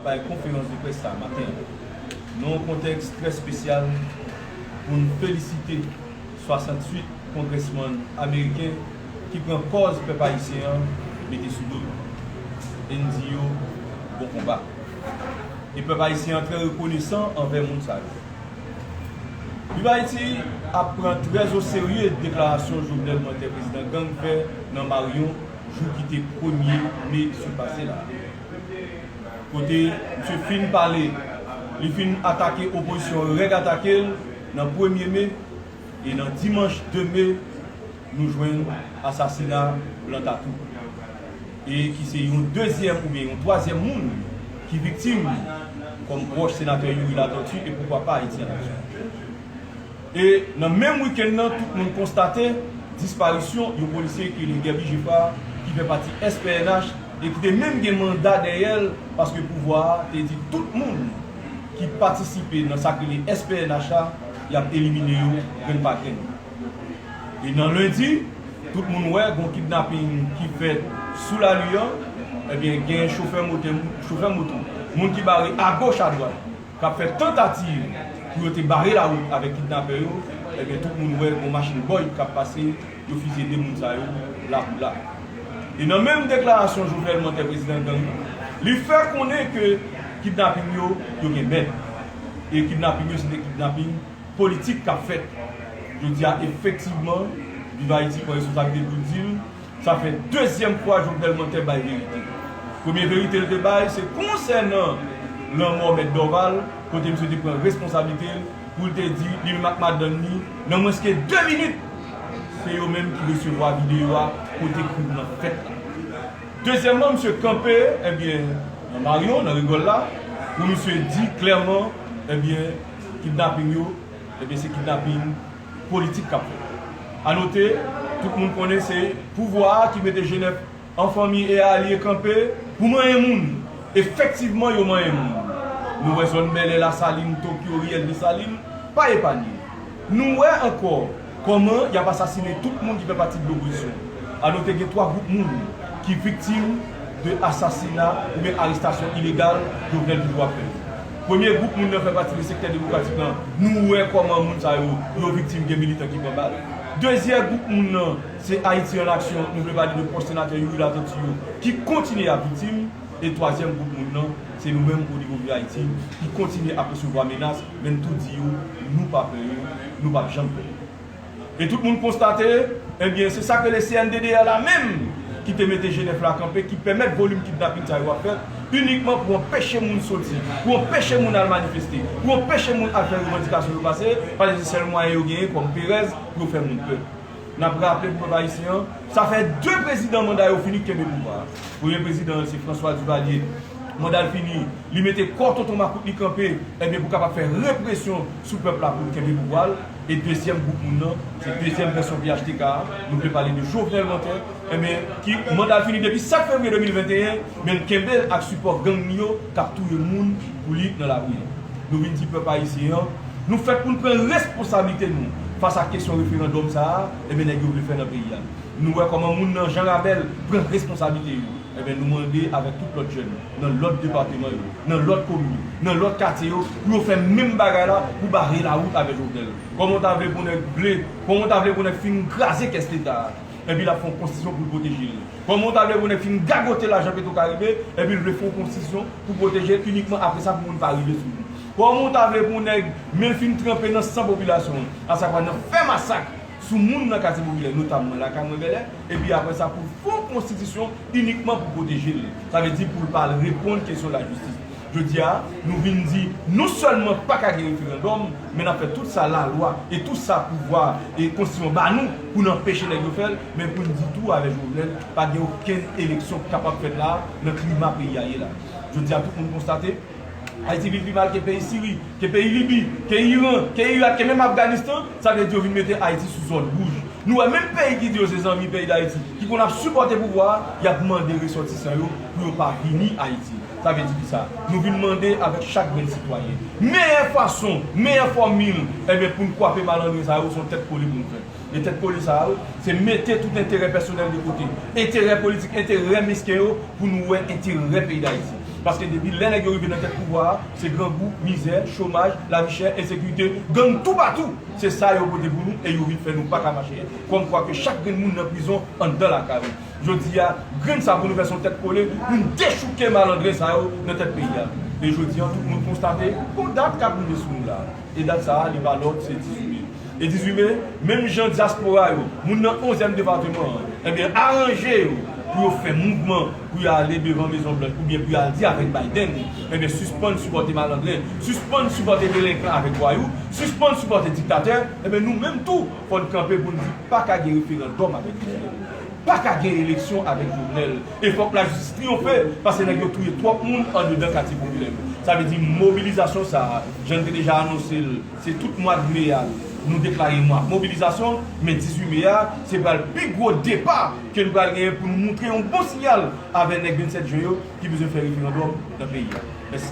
Nan bay konferans de près sa maten an, nan yon kontèks trè spesyal pou n felisite 68 kongrèsmann ameriken ki pran kòz pèp ayisyen an mete sou do yo e n di yo bon konba. E pèp ayisyen an trè rekonesan anvè moun sa yo. Viv Ayiti ap pran trè o serye deklarasyon Jovenel Moise Prezidan Gang fè nan Maryon jou ki te premye me sou pase la a. Kote misye fin pale, li fin atake opozisyon an rèd atake l nan premye me e nan dimanch 2 me nou jwenn asasina blan tatou e ki se yon dezyèm oubyen yon twazyèm moun ki viktim kòm pwòch senatè Youri Latortue e poukwa pa Ayiti an aksyon. E nan menm wikenn nan tout moun konstate disparisyon yon polisye ki rele Guerby Geffrard ki fè pati SPNH e ki te menm gen manda dèyè l paske pouvwa a te di tout moun ki patisipe nan sa k rele SPNH a y ap elimine yo grenn pa grenn. E nan lendi tout moun wè gon kidnaping ki fèt sou lari an ebyen gen chofè motè chofè moto moun ki bare agoch adwat k ap fè tantativ pou yo te bare lawout avèk kidnapè yo, ebyen tout moun wè gon machin Boyd k ap pase, yo fizye 2 moun sa yo la pou la. E nan menm deklarasyon Jovenel Montè prezidan gang nan, li fè konnen ke kidnaping yo, yo gen mèt. E kidnaping yo se te kidnaping politik k ap fèt. Jodi a efektivman Viv Ayiti pran responsabilite l pou l di l, Sa fè dezyèm fwa Jovenel Montè bay verite. Premye verite l te bay se konsènan lanmò Mèt Dorval kote misye te pran responsablite l pou l te di li menm ak madann ni nan mwens ke 2 minit se yo menm ki resevwa videyo a kote krim nan fèt la. Dezyèmman misye kanpe ebyen nan Marion, nan Rigole la pou misye di klèman ebyen kidnaping yo ebyen se kidnaping. politik k ap fèt. A note, tout moun konnen se pouvwa a ki mete Jenèf an fanmi e alye kanpe pou manyen moun. Efektivman yo manyen moun. Nou wè zòn Bèlè, Lasalin, Tokyo, Riyèl Desalin pa epanye. Nou wè ankò kòman y ap asasinen tout moun ki fè pati de lopozisyon. A note gen 3 gwoup moun ki viktim de asasina oubyen arestasyon ilegal Jovenel toujou ap fè yo. Premye gwoup moun nan fè pati de sektè demokratik lan, nou wè kòman moun sa yo, yo viktim gen militan ki pran bal. Dezyè gwoup moun nan, se Ayiti an aksyon, nou vle pale de pwòch senatè Youri Latortue yo, ki kontinye ap viktim. E twazyèm gwoup moun nan, se nou menm onivo Viv Ayiti, ki kontinye ap resevwa menas, men n tou di yo, nou pa pè yo, nou p ap janm pè yo. E tout moun konstate, ebyen se sak rele CNDDR la menm ki te mete Genève la kanpe ki pèmèt volim kidnapin sa yo ap fèt inikman pou anpeche moun soti, pou anpeche moun al manifeste, pou anpeche moun al fè revandikasyon yo pase, paske se sèl mwayen yo genyen kòm perèz pou yo fè moun pè. Nap raple pou pèp ayisyen an, sa fè 2 prezidan manda yo fini kenbe pouvwa a. Premye prezidan an se François Duvalier, manda l fini, li mete kò tonton makout li kanpe, ebyen pou kapab fè represyon sou pèp la pou l kenbe pouvwa l. E dezyèm gwoup moun nan, se dezyèm vèsyon phtk a, nou vle pale de Jovenel Montè, enben ki manda l fini depi 7 fevriye 2021, men l kenbe l ak sipò gang li yo k ap touye moun pou li nan lari yo. Nou vin di pèp ayisyen an, nou fèt pou n pran responsablite nou fas ak kesyon referandòm sa a, enben nèg yo vle fè nan peyi a. Nou wè kòman moun nan Jan Rabèl pran responsablite yo. Enben, nou mande avèk tout lòt jèn nan lòt depateman yo, nan lòt komin yo, nan lòt katye yo pou yo fè menm bagay la pou bare lawout avè Jovenel. Kòman w ta vle pou nèg vle, kòman w ta vle pou nèg fin kraze kès leta a, epi l ap fè yon konstitisyon pou l pwoteje l? Kòman w ta vle pou nèg fin gagote lajan Petro Karibe epi l vle fè yon konstitisyon pou pwoteje l inikman apre sa pou moun pa rive sou li? Kòman w ta vle pou nèg men l fin tranpe nan san popilasyon an, asavwa nan fè masak sou moun nan katye popilè, notamman lakay mwen Bèlè? epi apre sa pou l fè yon konstitisyon inikman pou pwoteje l, sa vle di pou l pa al reponn kesyon lajistis. Jodi a, nou vin di non sèlman pa ka gen referandòm, men n ap fè tout sa lalwa e tout sa pouvwa e konstitisyon ba nou pou n anpeche nèg yo fè l, men pou n di tou avè Jovenel pa gen okenn eleksyon k kapab fèt la a nan klima peyi a ye la. Jodi a tout moun konstate. Ayiti vin pi mal ke peyi Siri, ke peyi Libi, ke Iran, ke Irak, ke menm Afganistan, sa vle di yo vin mete Ayiti sou zòn wouj. Nou wè menm peyi ki di yo se zanmi peyi Dayiti, ki konn ap sipòte pouvwa a, y ap mande resòtisan yo pou yo pa vini Ayiti. Sa vle di kisa? Nou vin mande avèk chak grenn sitwayen. Meyè fason, meyè fòmil, enben pou n kwape malandren sa yo, s on tèt kole pou n fè. de tèt kole sa yo, se mete tout enterè pèsonèl de kote, enterè politik, enterè mesken yo pou nou wè enterè peyi Dayiti. Paske depi lè nèg yo rive nan tèt pouvwa a, se grangou, mizè, chomaj, lavi chè, ensekirite, gang toupatou, se sa yo pote pou nou e yo vin fè nou paka mache. Kòm kwa ke chak grenn moun nan prizon anndan lakay ou. Jodi a, grenn sa pou nou fè se yon tèt kole pou n dechouke malandren sa yo nan tèt peyi a. E jodi an tout moun konstate gon dat k ap rive sou nou la a. E dat sa a, li pa lòt, se 18 me. E 18 me, menm jan dyaspora yo, moun nan onzyèm depatman an, enben aranje yo pou yo fè mouvman pou yo ale devan Mezon Blanch oubyen pou yo al di avèk Biden, enben sispann sipòte malandren, sispann sipòte delenkan avèk vwayou, sispann sipòte diktatè, enben nou menm tou fò n kanpe pou n di pa ka gen referandòm avèk Jovenel. Pa ka gen eleksyon avèk Jovenel. E fòk lajistis triyonfe paske nèg yo touye twòp moun andedan katye popilè yo. Sa vle di mobilizasyon sa a, jan n te deja anonse l, se tout mwad me a nou deklare mwa mobilizasyon, men 18 me a se pral pi gwo depa ke n pral genyen pou nou moutre yon bon siyal avè nèg 27 jen yo ki bezwen fè referandòm nan peyi a. Mèsi.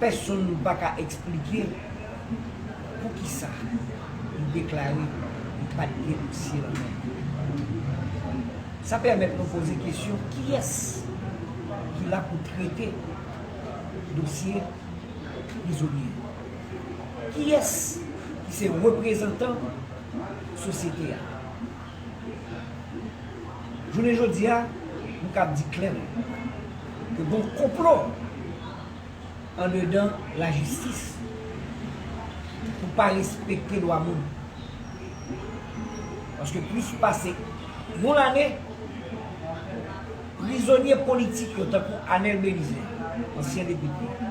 Pèsonn pa ka eksplike poukisa li deklare li pa t gen dosye nan men li. Sa pèmèt nou poze kesyon kiyès ki la pou trete dosye prizonye yo? Kiyès ki se reprezantan sosyete a? Jounen jodi a, m kab di klèman ke gen yon konplo andedan lajistis pou pa respekte dwa moun. Paske plis pase yon lane, prizonye politik yo tankou Anel Belizaire, ansyen depite,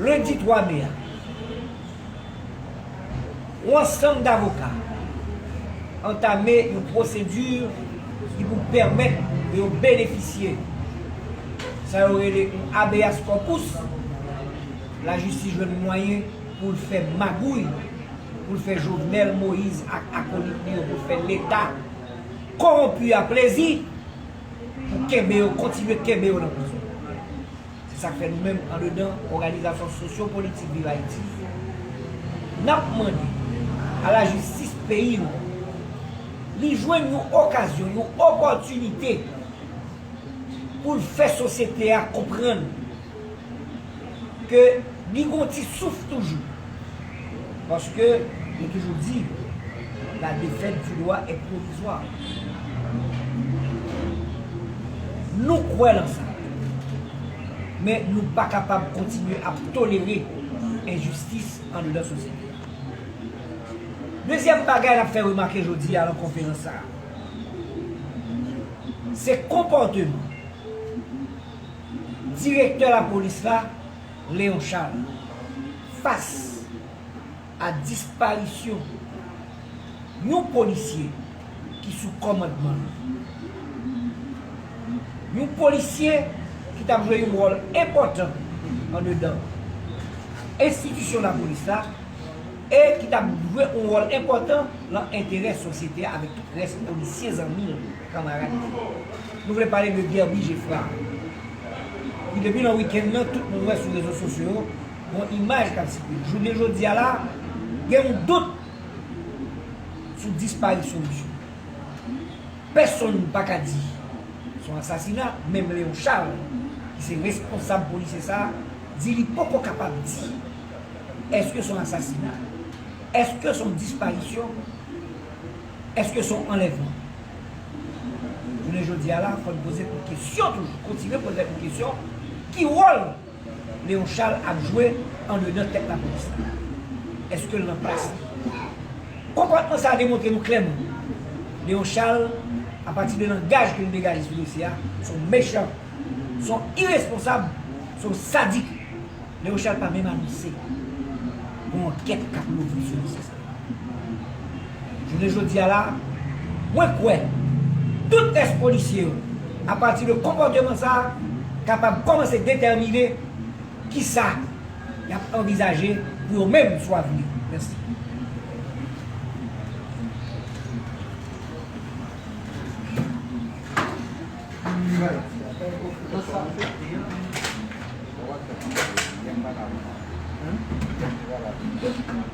Lendi 3 me a, yon ansanm davoka antame yon pwosedi ki pou pèmèt pou yo benefisye sa yo rele yon habeas corpus, lajistis jwenn mwayen pou l fè magouy, pou l fè Jovenel Moïse ak akolit li yo, pou l fè leta kowonpi a plezi. pou kenbe yo, kontinye kenbe yo nan prizon. Se sa k fè nou menm andedan òganizasyon sosyopolitik Viv Ayiti, n ap mande a lajistis peyi nou an, li jwenn yon okazyon, yon opòtinite pou l fè sosyete a konprann, ke li gon ti souf toujou. Paske yo toujou di la défaite du droit est provisoire. Nou kwè lan sa. Men nou pa kapab kontinye ap tolere enjistis andedan sosyete a. Dezyèm bagay n ap fè remake jodi a lan konferans sa a, se konpòteman. Direktè lapolis la, Léon Charles, fas a disparisyon yon polisye ki sou kòmandman li. Yon polisye ki t ap jwe yon wòl enpòtan andedan enstitisyon lapolis la e ki t ap jwe yon wòl enpòtan lan enterè sosyete a avèk tout rès polisye zanmi l. Kanmarad mwen yo, nou vle pale de Guerby Geffrard, ki depi nan wikenn nan, tout moun wè sou rezo sosyo yo, gon imaj k ap sikile. Jounen jodi a la, gen yon dout sou disparisyon misye. Pèsonn pa ka di se yon asasina, menm Léon Charles, ki se responsab polisye sa a, di li poko kapab di èske se yon asasina, èske se yon disparisyon. Eske se yon anlèvman? Jounen jodi a la, fò n poze kout kesyon toujou, kontinye poze kout kesyon, ki wòl Léon Charles ap jwe andedan tèt lapolis la? Eske l nan plas li? Konpòtman sa a demontre nou klèman, Léon Charles, apati de langaj ke l degaje sou dosye a, se yon mechan, se yon iresponsab, se yon sadik. Léon Charles pa menm anonse gon ankèt k ap louvri sou dosye sa. Jounen jodi a la, mwen kwè tout tès polisye yo, apati de konpòteman sa a, kapab kòmanse detèmine ki sa y ap anvizaje pou yo menm sou avni. Mèsi.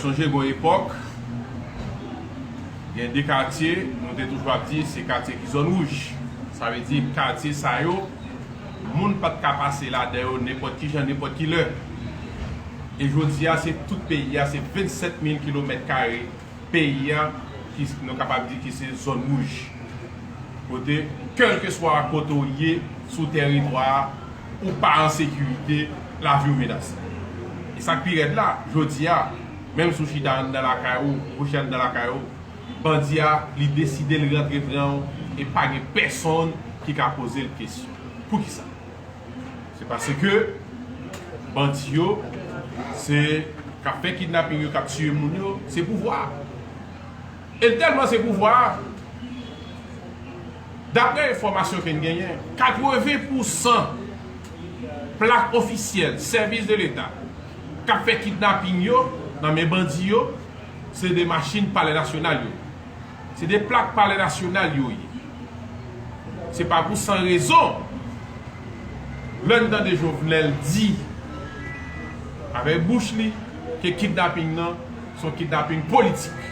Sonje gon epòk, gen 2 katye nou te toujou ap di se katye ki zòn wouj. Sa vle di katye sa yo, moun pa t ka pase ladan yo nenpòt ki jan, nenpòt ki lè. E jodi a, se tout peyi a, se 27 mil kilomèt kare peyi a ki nou kapab di ki se zòn wouj kote kèlkeswa kote w ye sou tèritwa a ou pa an sekirite lavi w menase e sa k pi rèd la jodi a menm si w chita anndan lakay ou ou kouche anndan lakay ou bandi a li deside l rantre pran w e pa gen pèsonn ki ka poze l kesyon poukisa. Se paske bandi yo se kap fè kidnaping yo kap tiye moun yo se pouvwa a. E tèlman se pouvwa a daprè enfòmasyon ke n genyen 80 pousan plak ofisyèl sèvis de leta kap fè kidnaping yo nan men bandi yo se de machin palè nasyonal yo. Se de plak palè nasyonal yo ye. Se pa pou san rezon lè n tande Jovenel di avèk bouch li ke kidnaping nan se yon kidnaping politik.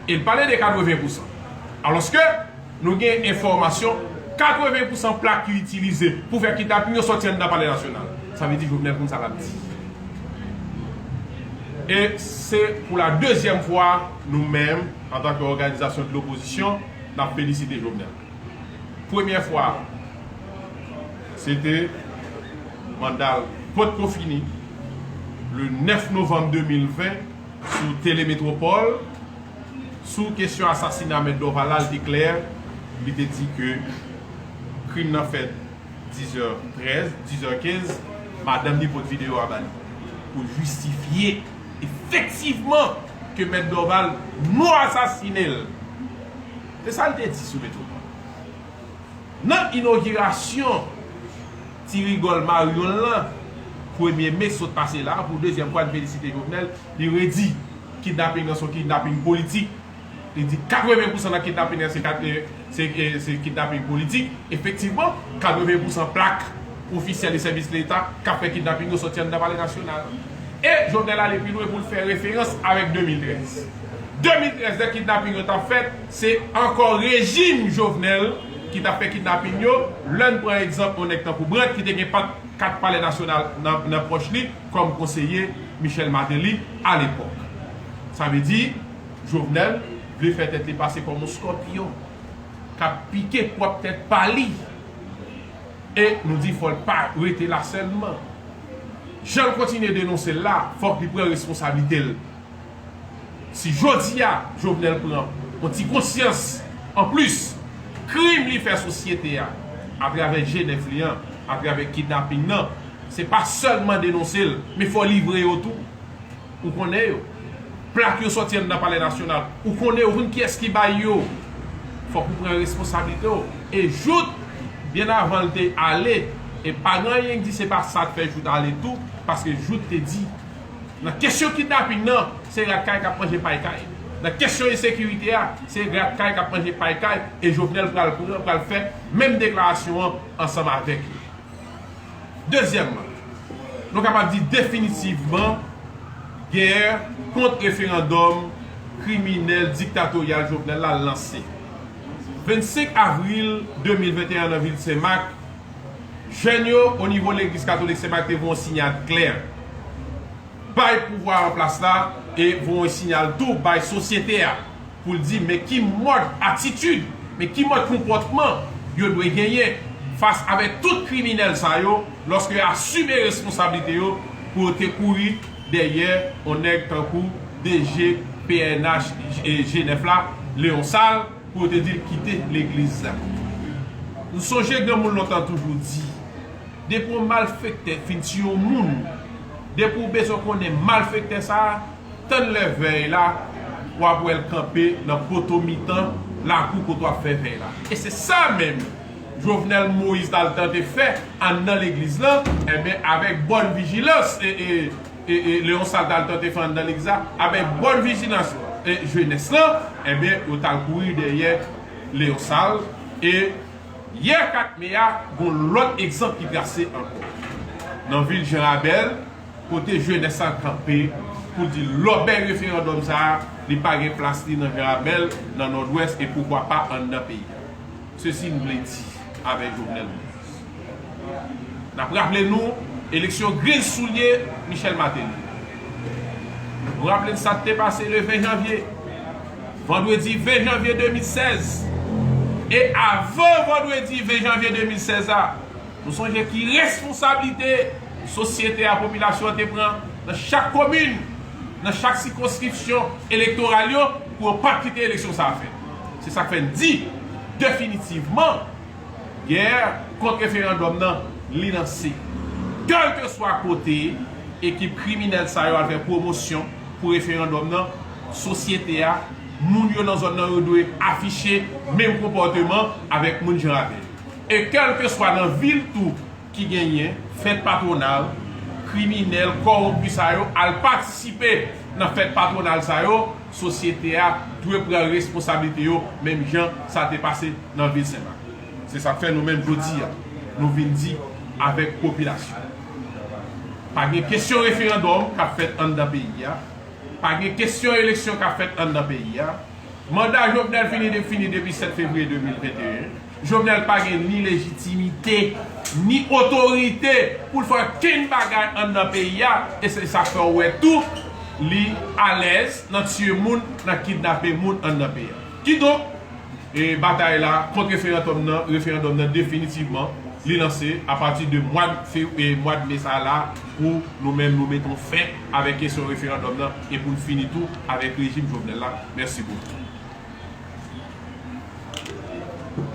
E l pale de 80 pousan. Alòske. Nou gen enfòmasyon 80 pousan plak yo itilize pou fè kidnaping yo sòti anndan palè nasyonal. Sa vle di Jovenel konn sa l ap di. E se pou la dezyèm fwa nou menm antanke òganizasyon de lopozisyon n ap felisite Jovenel. Premyè fwa a se te manda l potko fini le 9 novanm 2020 sou Tele Metropole. Sou kesyon asasina Mèt Dorval la, li te klè, li te di ke krim nan fèt 10 zè 13, 10 zè 15, madanm li pot videyo a ba li pou jistifye efektivman ke Mèt Dorval nou asasine l. Se sa li te di sou Metropole. Nan inogirasyon ti rigòl maryon l lan, premye me sot pase la a, pou dezyèm fwa li felisite Jovenel, li redi. Kidnaping nan se yon kidnaping politik. Li di 80 pousan nan kidnaping nan se kidnaping politik. Efektivman, 80 pousan plak ofisyèl e sèvis leta k ap fè kidnaping yo sòti anndan Palè Nasyonal. E Jovenel ale pi lwen pou l fè referans avèk 2013. 2013, lè kidnaping yo t ap fèt, se ankò rejim Jovenel ki t ap fè kidnaping yo. Lè n pran egzanp yon nèg tankou Brandt ki te gen 4 palè nasyonal nan pòch li, kòm konseye Michel Martelly alepòk. Sa vle di, Jovenel vle fè tèt li pase kòm yon skòpiyon k ap pike pwòp tèt pa li. E nou di fò l pa rete la sèlman. Jan l kontinye denonse l la, fòk li pran responsablite l. Si jodi a Jovenel pran yon ti konsyans an plis krim li fè sosyete a atravè je nèf li an, atravè kidnaping nan, se pa sèlman denonse l men fò livre yo tou. Ou konnen yo. Plak yo sòti anndan palè nasyonal. Ou konnen yo. Ou konn kiyès ki bay yo. Fòk ou pran responsablite w. E Jout byen avan l te ale e pa gen anyen k di se pa sa k fè Jout ale tou paske Jout te di. Nan kesyon kidnaping nan, se rat kay k ap manje pay kay. Nan kesyon ensekirite a, se rat kay k ap manje pay kay e Jovenel pral pran, pral fè menm deklarasyon an ansanm avèk yo. Dezyèmman, nou kapab di definitivman gè kont referandòm kriminèl diktatoryal Jovenel la lanse. 25 avril 2021 an nan vil Senmak, Jèn yo, o nivo legliz katolik Sen Mak te voye yon sinyal klè bay pouvwa an plas la e voye yon sinyal tou bay sosyete a pou l di men ki mòd atitid, men ki mòd konpòtman yo dwe genyen fas avèk tout kriminèl sa yo lòske yo asime responsablite yo pou yo te kouri dèyè yon nèg tankou DG pnh G9 la, Léon Sal. Pou yo te di l kite legliz la. M sonje granmoun lontan toujou di, depi yon malfektè fin tiye yon moun, depi w bezwen konnen malfektè sa a, tann lè vèy la, w ap wè l kanpe nan poto mitan lakou kote w ap fè vèy la. E se sa menm Jovenel Moïse t al tante fè anndan legliz lan, enben avèk bòn vijilans e. Leon sa l t al tante fè anndan legliz la? Avèk bòn vijilans jenès lan, enben, yo t al kouri dèyè Leon sa l. E, yè 4 me a, gon lòt egzanp ki trase ankò, nan vil Jan Rabèl, kote jenès sa l kanpe pou l di lòbèy referandòm sa a, li pa gen plas li nan Jan Rabèl, nan Nòdwès e poukwa pa anndan peyi a. Sesi m vle di avèk Jovenel Moïse. N ap raple nou eleksyon griz soulye Michel Martelly. Nou raple n sa k te pase le 20 janvye, vandredi 20 janvye 2016. E avan vandredi 20 janvye 2016 a, nou sonje ki responsablite sosyete a, popilasyon an te pran nan chak komin, nan chak sikonskripsyon elektoral yo pou yo pa t kite eleksyon sa a fèt. Se sa k fè n di definitivman, Gè kont referandòm nan li lanse. Kèlkeswa kote ekip kriminèl sa yo al fè pwomosyon pou referandòm nan, sosyete a, moun yo nan zòn nan yo dwe afiche menm konpòteman avèk moun Janrabèl. E kèlkeswa nan vil tou, ki genyen fèt patwonal kriminèl kowonpi sa yo al patisipe nan fèt patwonal sa yo, sosyete a dwe pran responsablite yo menm jan sa te pase nan vil Senmak. Se sa k fè nou menm jodi a nou vin di avèk popilasyon pa gen kesyon referandòm k ap fèt anndan peyi a, pa gen kesyon eleksyon k ap fèt anndan peyi a. Manda Jovenel fini fini depi 7 fevriye 2021. Jovenel pa gen ni lejitimite, ni otorite pou l fè okenn bagay anndan peyi a e se sa k fè w wè tou li alèz nan tiye moun, nan kidnape moun anndan peyi a. Kidonk, batay la kont referantòm nan, referandòm nan definitivman li lanse a pati de mwad fevri, mwad me sa la pou nou menm nou mete yon fen avèk kesyon referandòm nan e pou n fini tou avèk rejim Jovenel la. Mèsi bokou.